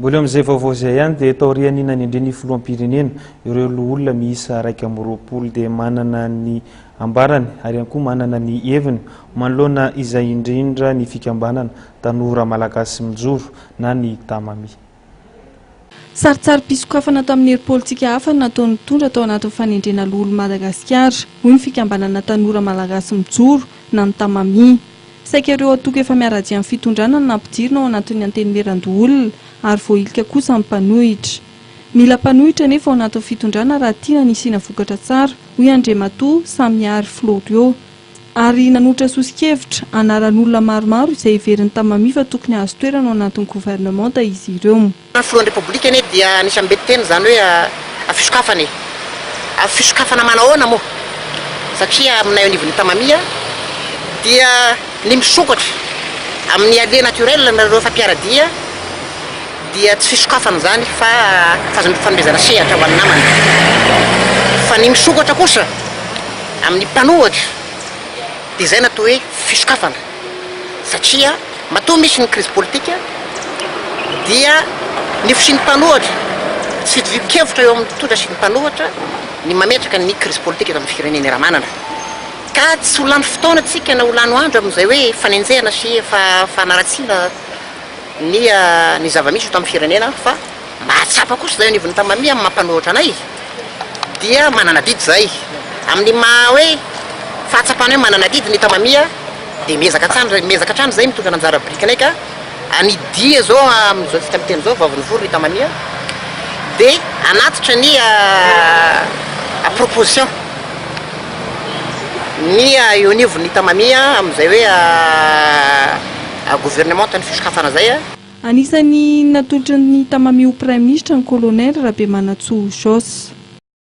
Mbola eo amin'izay vaovao izay ihany dia taorian'ny ny nanendren'ny filoham-pirenena ireo loholona miisa iraika amby roapolo dia manana ny ambarany ary ihany koa manana ny heviny manoloana izay indrindra ny fikambanana Tanora Malagasy Mijoro na ny Tamami. Sarintsarim-pisokafana tamin'ny hery politika hafa ny nataon'ny mpitondra tao anatin'ny fanendrena loholon'i Madagasikara, hoy ny fikambanana Tanora Malagasy Mijoro na ny Tamami. Saika ireo antoko efa miara-dia amin'ny fitondrana no nampidirina ao anatin'ny Antenimierandoholona ary voahilika kosa ny mpanohitra. Mila mpanohitra anefa ao anatin'ny fitondrana raha tiana ny hisiana vokatra tsara, hoy Andriamatoa Samiary Florio. Ary nanolotra soso-kevitra, anaran'olona maromaro izay heveriny tamin'ny Mami fa tokony hahazo toerana ao anatin'ny governemanta izy ireo. Ny Filohan'ny Repoblika anie dia nisy ambe niteny izany hoe avy fisokafana e! Avy fisokafana manahoana moa? Satria aminay ao anivon'ny Tamami dia ny misokatra amin'ny alliés naturels anareo efa mpiara-dia dia tsy fisokafana izany fa fanomezana sehatra ho an'ny namana. Fa ny misokatra kosa amin'ny mpanohatra dia izay no atao hoe fisokafana. satria matoa misy ny krizy politika dia ny fisian'ny mpanohatra sy fitovian-kevitra eo amin'ny mpitondra sy ny mpanohatra ny mametraka ny krizy politika eto amin'ny firenena Ramanana ka tsy ho lany fotoana tsika na ho lano andro amin'izay hoe fanenjehana sy fanaratsiana ny ny zava-misy eto amin'ny firenena fa Mahatsapa kosa izay anivon'ny Tamami amin'ny maha mpanohitra anay dia manana adidy izay. Amin'ny maha hoe fahatsapana hoe manana adidy ny Tamami dia miezaka hatrany miezaka hatrany izay mitondra ny anjara birikinay ka hanidia izao amin'izao fika miteny izao vao nivory ny Tamami dia hanatitra ny proposition ny eo anivon'ny Tamami amin'izay hoe governemanta ny fisokafana izay. Anisan'ny natolotry ny tamami ho praiminisitra ny kolonely Rabemanantsoa Jos.